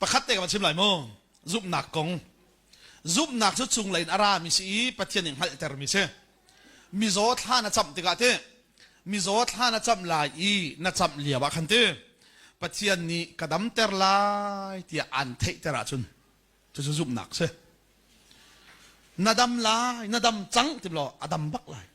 Pakhat te ka va chim lai mu. Zumhnak kong. Zumhnak cu chunglei in a rami si i Pathian nih hngalhtermi si. Mizaw thla na camh tikah ti mizaw thla na camh lai i na camh lio ah khan ti Pathian nih ka damter lai tiah aan theihter ahcun cucu zumhnak si. Na dam lai, na dam cang ti law a dam bak lai.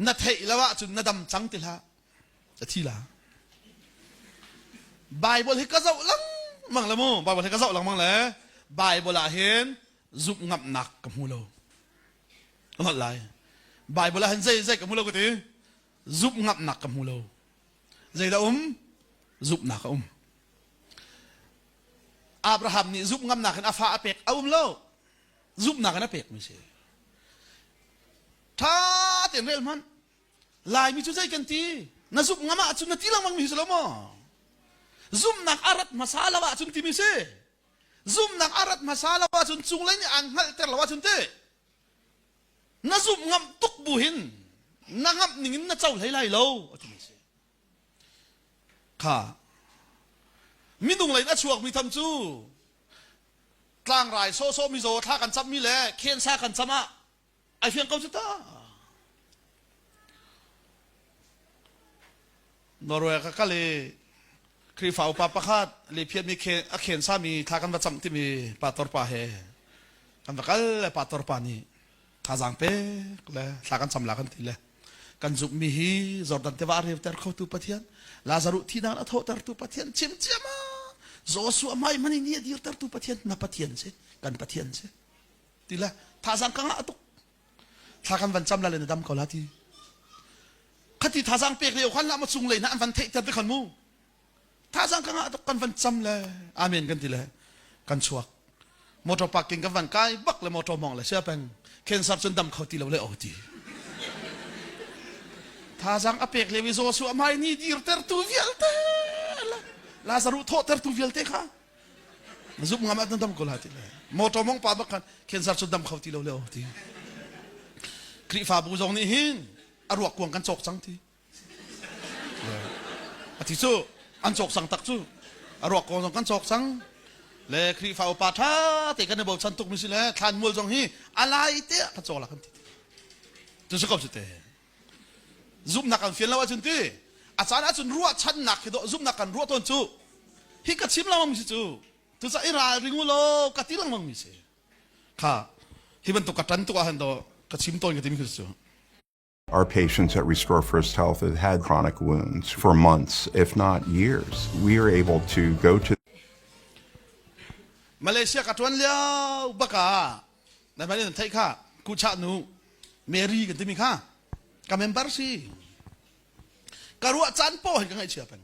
Na theih lo ahcun na dam cang ti hlah. a thi la bible hi ka zoh langmang le mu bible hi ka zoh langmang le bible ah hin zumh ngamnak ka hmu lo ka ngot lai bible ah hin zei zei ka hmu lo ka ti zumh ngamnak ka hmu lo zei da um zumhnak a um abraham nih zumh ngamnak in a fa a pek a um lo zumhnak in a pek mi si tha ten rel hman Laimi cu zei kan ti na zumh ngam ah cun na ti lengmang mi si lo maw zumnak a rat hmasa lo ah cun timi si zumnak a rat hmasa lo ah cun cunglei nih aan hngalhter lo ah cun ti na zumh ngam tuk bu hin na ngamh ning in na co hlei lai lo a timi si kha minung lei a chuak mi tham cu tlangrai sawsawh mizaw thla kan cam mi le khensa kan cam ah a hliang ko cu ta norway ka kale khrihfa upa pakhat le phiat mi a khen sami thla kan va cam timi pator pa he kan va kal le pator pa nih thazang pek le thla kan cam la kan ti le kan zuk mi hi jordan te wa rev ter kho tu pathian lazaru thinan a tho ter tu pathian chim chiama joshua mai mani ni dir ter tu pathian na pathian se kan pathian se ti le thazang ka ngah tuk thla kan van cham la le na dam ko la ti khati thazang pek lio khan lama cung lei na an van theih ter te khan mu thazang ka ngah tuk kan van cham le amen kan ti le kan chuak motor parking kan van kai bak le motor mong le sia peng cancer chun dam kho ti lo le o ti thazang apek le vi zo su amai ni dir ter tu vial te la zaru tho ter tu vial te kha na zumh ngam ah na dam ko la ti le motor mong pa bak khan cancer cu dam kho ti lo le oh ti Khrihfabu zong nih hin a ruak kuang kan cawk cang ti a ti cu an cawk sang tak cu a ruak kuang zong kan cawk cang le Khrihfa upa ṭha te kan i bochan tuk mi si le thlan mual zong hi a lai te ka cawl a kan ti tu si ko cu te zumhnak kan fian lo ahcun ti a caan ahcun ruahchannak khi dawh zumhnak kan ruah tawn cu hi ka chim lengmang mi si cu cucaah i ralring u law ka ti lengmang mi si kha hi bantuk ka tan tuk ahhan do ka chim tawn ka timi khi cu Our patients at Restore First Health have had chronic wounds for months, if not years. We are able to go to Malaysia ka tuan lio baka na hmai nan theih kha kuchah nu Mary kan timi kha ka member si ka ruah caan paw hi ka ngaih chia pen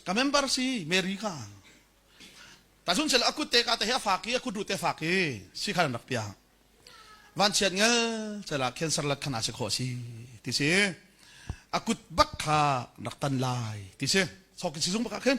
ka member si Mary kha ta chun chel akut te ka te ha faki akut ru te faki si khan rak pia van chiat ngel chala cancer la khana se kho si ti si akut bak kha rak tan lai ti si so ki si zung baka khin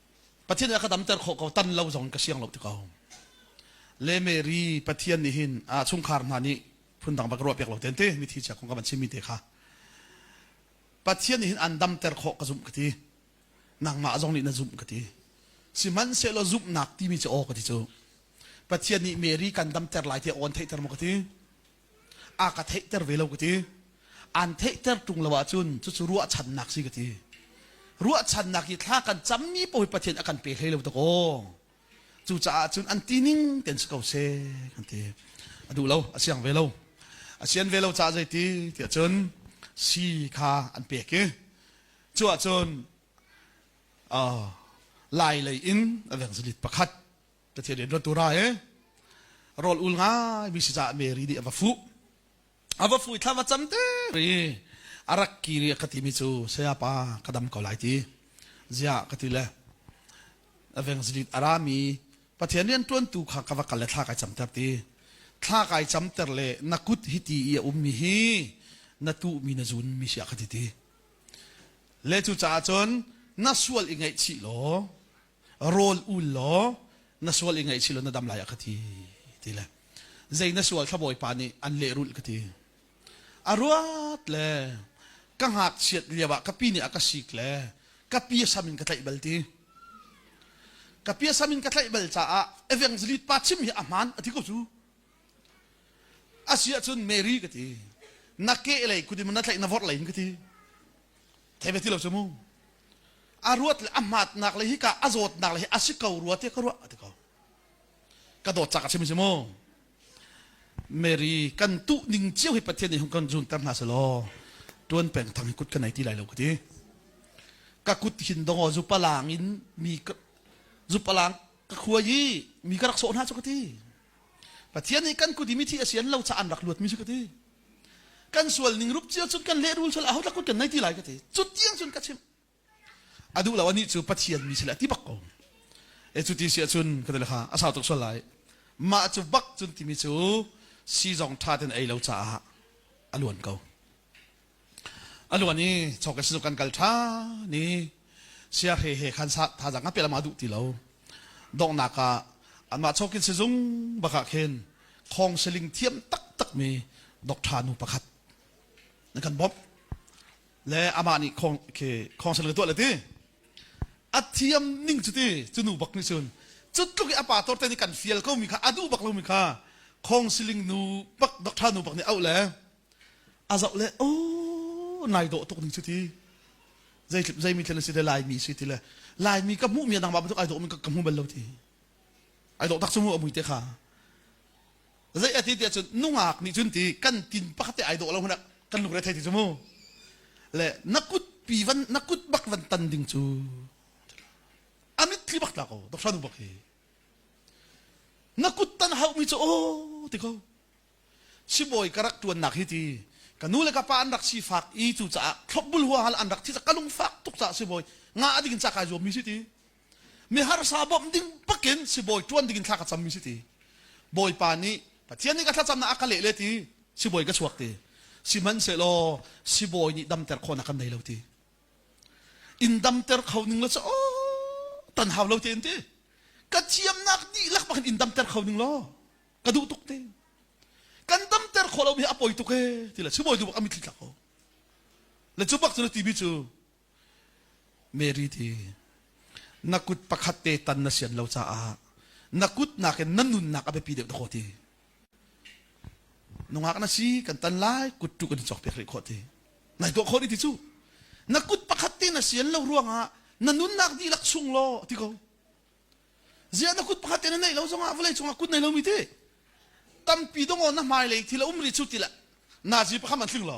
Pathian a ka damter khawh ko tan lo zong in ka siang lo ti ko. Le Mary Pathian nih hin a chungkhar hna nih phundang bak ruah piak lo ten te mithi chia kong ka van chimmi te kha Pathian nih hin an damter khawh ka zumh ka ti nangmah zong nih na zumh ka ti sihmanhsehlaw zumhnak timi cu aw ka ti cu Pathian nih Mary kan damter lai ti awn theihter maw ka ti a ka theihter ve lo ka ti an theihter ṭung lo ahcun cucu ruahchannak si ka ti ruahchannak hi thla kan cammi pawl pathian a kan pe hlei lo tak aw cucaah cun an tining ten si ko se kan ti a duh lo a siang ve lo a sian ve lo ca zeiti tiah cun si kha an pek i cu ahcun lai lei in a veng zalit pakhat Pathian in ruatu ra e rol ul ngai mi si ca Mary di a va fu a va fu thla va cam te ri a rak ki ri ka ti mi cu saya pa ka dam ko lai ti zia ka ti le aveng zidit arami pathian rian tuan tu kha ka va kal le thla kai cam ter ti thla kai cam ter le na kut hi ti i a um mi hi na tu mi na zun mi sia ka ti ti le cu caah cun na sual i ngaih chi law rawl ul law na sual i ngaih si law na dam lai a ka ti ti le zei na sual thlabawi pa nih an lehrulh ka ti a ruat le ka hngak chiat liam ah ka pi nih a ka sik le ka pi sam in ka tlaih bal ti ka pi sam in ka tlaih bal caah evangelist pa chim hi a hman a ti ko cu a si ahcun mary ka ti na ke lei kudim na tlaih na vorh lei ka ti theve ti lo cu mu a ruat a hmatnak le hika a zawtnak le hi a si ko rua tiah ka ruah a ti ko ka dawt cak a chim si mu Mary kan tu ning cio hi pathian nih hung kan zun ter hna se law tuan peng thang hi kut ka nei ti lai lo ka ti ka kut hin dong zu palang in mi zu palang ka khua i mi ka rak sawh hna chu ka ti pathian nih kan kut i mithi a sian lo cha an rak luat mi si ka ti kan sual ning rup cio cun kan lehrul sal ahotlak kut kan nai ti lai ka ti cu tiang cun ka chim a duh lo anih cu pathian mi sila ti bak ko e cu ti sia cun ka tale kha a sau tuk sual lai mah cu bak cun timi cu si zong tha ten ei lo caah a luan ko a luan i chok kan si kan kal tha ni Saya Hre he khan thazang a peh lama duh ti lo. Donghnak ah anmah chokin sizung bakah khin khong siling thiam taktakmi dokṭha nu pakhat na kan bawmh le amah nih khong khi khong siling tuah le ti a thiam ning cu ti cu nu bak nih cun cutluk i a pa torte nih kan fial komi kha a duh bak lomi kha khong siling nu bak dokṭha nu bak nih auh le a zoh le oh nai dawh tuk ning cu ti zei zei mi thlen a si te laimi si ti le laimi ka hmuh mi dang ba tuk ai dawh mi ka hmu bal lo ti ai dawh tak su mu amui te kha zei ati ti cun nungak nih cun ti kan tin pakhat te ai dawh lo hna kan lung re thei ti cu mu le na kut pi van na kut bak van tan ding cu amit thli bak ta ko dok shanu bak hi na kut tan hau mi cu oh ti ko Sibawi ka rak ṭuannak hi ti ka nu le ka pa an rak sifak i cucaah thlopbul huahal an rak thih ka lungfak tuk caah sibawi ngah a ding in ca kai zuammi si ti mi harsa bawmh ding bakin sibawi ṭuan ding in thla ka cammi si ti bawipa nih Pathian nih ka thlacamnak a ka leh le ti sibawi ka chuak ti sihmanhsehlaw sibawi nih damter khawhnak kan nei lo ti in damter kho ning lo cu aw tan hau lo te in ti ka thiamnak dihlak bakin in damter kho ning law ka duh tuk te kan damter khawh lomi a poi tuk e ti la chumawi du bak a mitthli tlak ko le cu bak cu na timi cu mary ti na kut pakhat te tan na sian lo caah na kut nakin na nunnak a biapi deuh na kho ti nungak na si kan tan lai kut tu kan cok pek rih khawh ti nai tuah khawh ni ti cu na kut pakhat te na sian lo ruangah na nunnak dihlak chung lo ti ko ziah na kut pakhat ten a neih lo zongah vawlei cungah kut nei lomi ti tampi dong na hmailei thil a um rih cu tilah nazi pakhat an tling lo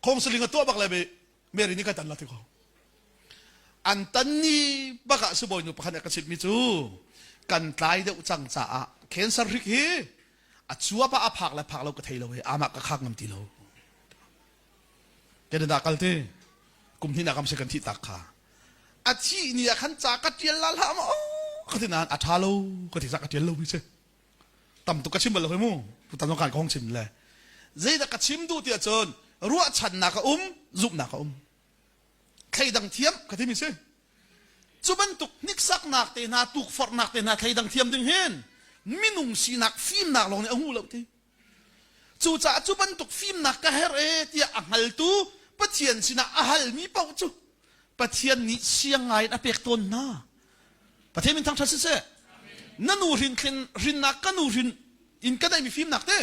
khongsaling a tuah bak le be mary nih kai tan la te ko an tan ni bak ah sibawi nu pakhat nih ka chimmi cu kan tlai deuh cang caah cancer rik hi a cuap ah a phak le phak lo ka thei lo i amak ka khak ngam ti lo Canada kal te kum hnih nak kam si kan thih tak kha a thih ni ah khan ca ka tial la la ma ka ti nan a tha lo ka ti sa ka tial lo mi se tam tu ka chim bal lo mu pu tam kan kong chim le zei da ka chim du ti chun ruah chan na ka um zup na ka um thei dang thiam ka ti mi se cu bantuk niksak nak te na tuk far nak te na thei dang thiam ding hin minung sinak fim nak long ni a ngu lo ti Cucaah cu bantuk fimnak ka herh e tiah a hngaltu Pathian sinah a halmi paoh cu Pathian nih siang ngaiin a pek tawn hna. Pathian min thangṭhat siseh, na nu hrin tlin hrinnak ka nu hrin in ka neihmi fimnak te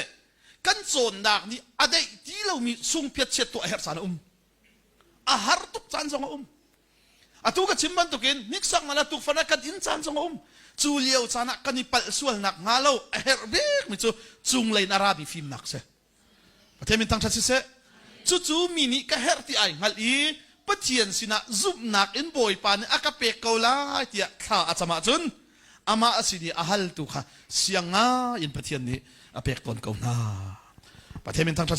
kan cawnnak nih a deih ti lomi sungpiat chiat tuah a herh caan a um. a har tuk caan zong a um atu ka chim bantukin hniksak mala tukfan ah kan in caan zong a um cu lio caan ah kan i palh sualnak hnga lo a herh bik mi cu cunglei in arabi fimnak si pathian min thangṭhat siseh cucu mi nih ka herh ti ai hngalh i pathian sinah zumhnak in bawipa nih a ka pek ko lai tiah thla a cam ahcun amah a sin i a hal tu kha sianga in pathian nih a pek tawn ko hna pathian min thangṭhat